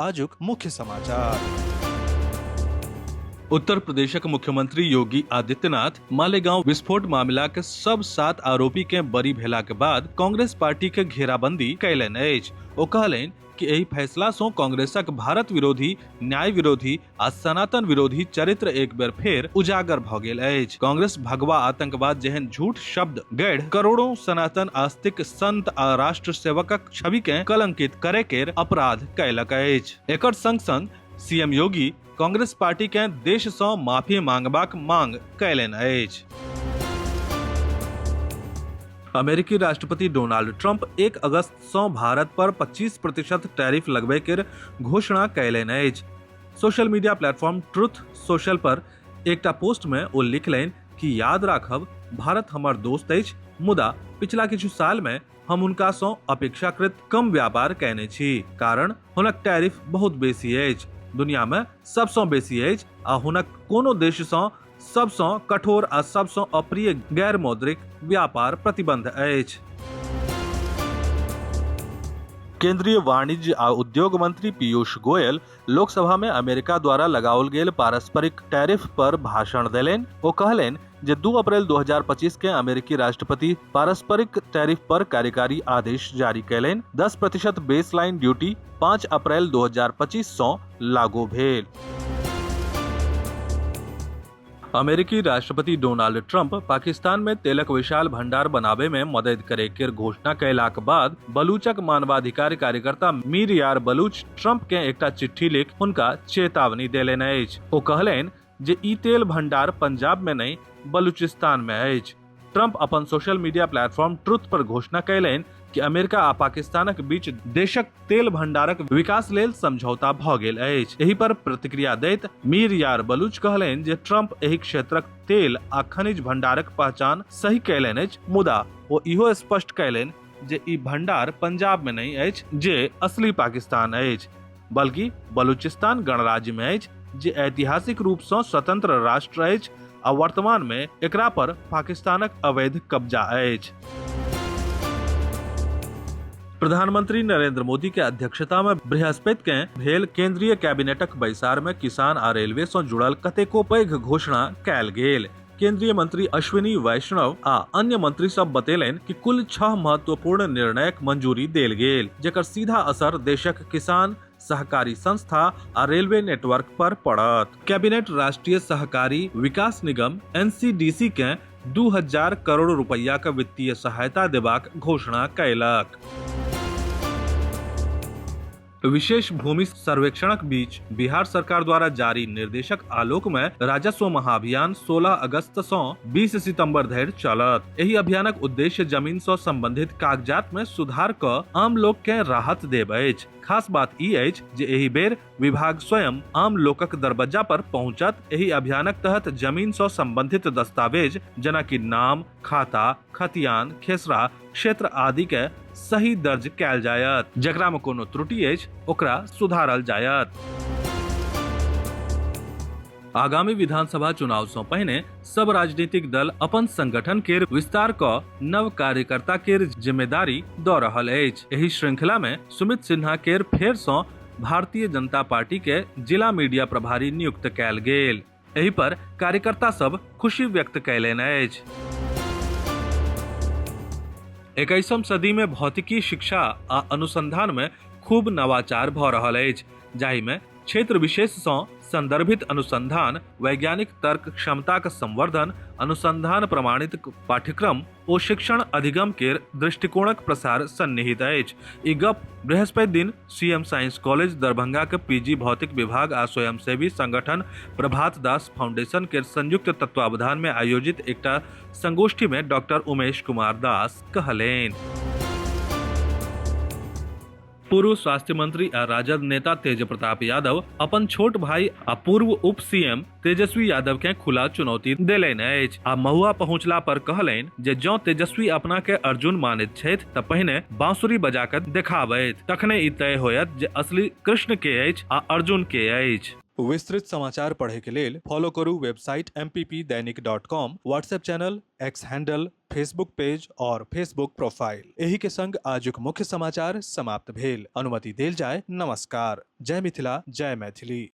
आजुक मुख्य समाचार उत्तर प्रदेशक मुख्यमंत्री योगी आदित्यनाथ मालेगांव विस्फोट मामिलाक सब सात आरोपी के बरी भेलाक बाद कांग्रेस पार्टी के घेराबंदी कयलनि अछि ओ कहलनि कि एहि फैसला सं कांग्रेसक भारत विरोधी न्याय विरोधी आ सनातन विरोधी चरित्र एक बेर फेर उजागर भ गेल अछि कांग्रेस भगवा आतंकवाद जेहन झूठ शब्द गढ़ करोड़ों सनातन आस्तिक संत आ राष्ट्र सेवकक छवि के कलंकित करे के अपराध कयलक अछि एकर संग संग सीएम योगी कांग्रेस पार्टी के देश से माफी मांगबाक मांग कयलनि अछि अमेरिकी राष्ट्रपति डोनाल्ड ट्रंप एक अगस्त सं भारत पर 25 प्रतिशत टैरिफ लगबय केर घोषणा कयलनि अछि। Social media platform Truth Social पर एकटा पोस्ट मे ओ लिखलनि कि याद राखब, भारत हमर दोस्त अछि, मुदा पिछला किछु साल मे हम हुनका सं अपेक्षाकृत कम व्यापार कयने छी। कारण हुनक टैरिफ बहुत बेसी अछि, दुनिया मे सब सं बेसी अछि आ हुनक कोनो देश सं सबसँ कठोर आ सबसँ अप्रिय गैर मौद्रिक व्यापार प्रतिबंध अछि केंद्रीय वाणिज्य आ उद्योग मंत्री पीयूष गोयल लोकसभा में अमेरिका द्वारा लगाओल गेल पारस्परिक टैरिफ पर भाषण देलनि ओ कहलनि जे 2 अप्रैल 2025 के अमेरिकी राष्ट्रपति पारस्परिक टैरिफ पर कार्यकारी आदेश जारी कैलनि 10 प्रतिशत बेसलाइन ड्यूटी 5 अप्रैल 2025 सं लागू भेल अमेरिकी राष्ट्रपति डोनाल्ड ट्रंप पाकिस्तान में तेलक विशाल भंडार बनाबे में मदद करे के घोषणा कैलाक बाद बलूचक मानवाधिकार कार्यकर्ता मीर यार बलूच ट्रंप के एकटा चिट्ठी लिख हुनका चेतावनी देलनि अछि ओ कहलनि जे ई तेल भंडार पंजाब में नहि बलूचिस्तान में अछि ट्रंप अपन सोशल मीडिया प्लेटफॉर्म ट्रुथ पर घोषणा कयलनि कि अमेरिका आ पाकिस्तानक बीच देशक तेल भंडारक विकास लेल समझौता भऽ गेल अछि एहि पर प्रतिक्रिया दैत मीर यार बलूच कहलनि जे ट्रंप एहि क्षेत्रक तेल आ खनिज भंडारक पहचान सही कयलनि अछि मुदा ओ इहो स्पष्ट कयलनि जे ई भंडार पंजाब में नहि अछि जे असली पाकिस्तान अछि बल्कि बलूचिस्तान गणराज्य में अछि जे ऐतिहासिक रूप से स्वतंत्र राष्ट्र अछि आ वर्तमान में एकरा पर पाकिस्तानक अवैध कब्जा अछि प्रधानमंत्री नरेंद्र मोदी के अध्यक्षता में बृहस्पति के भेल केंद्रीय कैबिनेटक बैसार में किसान आ रेलवे से जुड़ल कतेको पैघ घोषणा कयल गेल केंद्रीय मंत्री अश्विनी वैष्णव आ अन्य मंत्री सब बतेलनि कि कुल छह महत्वपूर्ण निर्णयक मंजूरी देल गेल जेकर सीधा असर देशक किसान सहकारी संस्था आ रेलवे नेटवर्क पर पड़त कैबिनेट राष्ट्रीय सहकारी विकास निगम एनसीडीसी के 2000 करोड़ रुपया के वित्तीय सहायता देबाक घोषणा कयलक विशेष भूमि सर्वेक्षणक बीच बिहार सरकार द्वारा जारी निर्देशक आलोक में राजस्व महाभियान 16 अगस्त से 20 सितंबर धरि चलत एहि अभियानक उद्देश्य जमीन से संबंधित कागजात में सुधार क आम लोक के राहत देब अछि खास बात ई अछि जे एहि बेर विभाग स्वयं आम लोकक दरबज्जा पर पहुंचत एहि अभियानक तहत जमीन से संबंधित दस्तावेज जेना कि नाम खाता खतियान खेसरा क्षेत्र आदि के सही दर्ज कैल जायत जकरा में कोनो त्रुटि अछि ओकरा सुधारल जायत आगामी विधानसभा चुनाव सं पहिने सब राजनीतिक दल अपन संगठन के विस्तार क नव कार्यकर्ता के जिम्मेदारी द रहल अछि एहि श्रृंखला में सुमित सिन्हा के फेर सं भारतीय जनता पार्टी के जिला मीडिया प्रभारी नियुक्त कैल गेल एहि पर कार्यकर्ता सब खुशी व्यक्त कैलनि अछि एकैसम सदी में भौतिकी शिक्षा आ अनुसंधान में खूब नवाचार भऽ रहल अछि जाहि में क्षेत्र विशेष सँ संदर्भित अनुसंधान वैज्ञानिक तर्क क्षमताक संवर्धन अनुसंधान प्रमाणित पाठ्यक्रम ओ शिक्षण अधिगम केर दृष्टिकोणक प्रसार सन्निहित अछि ई गप बृहस्पति दिन सीएम साइंस कॉलेज दरभंगा के पीजी भौतिक विभाग आ स्वयंसेवी संगठन प्रभात दास फाउंडेशन के संयुक्त तत्वावधान में आयोजित एकटा संगोष्ठी में डॉक्टर उमेश कुमार दास कहलेन पूर्व स्वास्थ्य मंत्री आ राजद नेता तेज प्रताप यादव अपन छोट भाई आ पूर्व उप सीएम तेजस्वी यादव के खुला चुनौती देलनि अछि आ महुआ पहुंचला पर कहलनि जे जं तेजस्वी अपना के अर्जुन मानैत छथि त पहिने बांसुरी बजा कऽ देखाबथि तखने ई तय होयत जे असली कृष्ण के अछि आ अर्जुन के अछि विस्तृत समाचार पढ़े के लेल फॉलो करू website M P P Dainik dot com WhatsApp channel X handle Facebook page और फेसबुक प्रोफाइल एही के संग आजुक मुख्य समाचार समाप्त भेल अनुमति देल जाय नमस्कार जय मिथिला जय मैथिली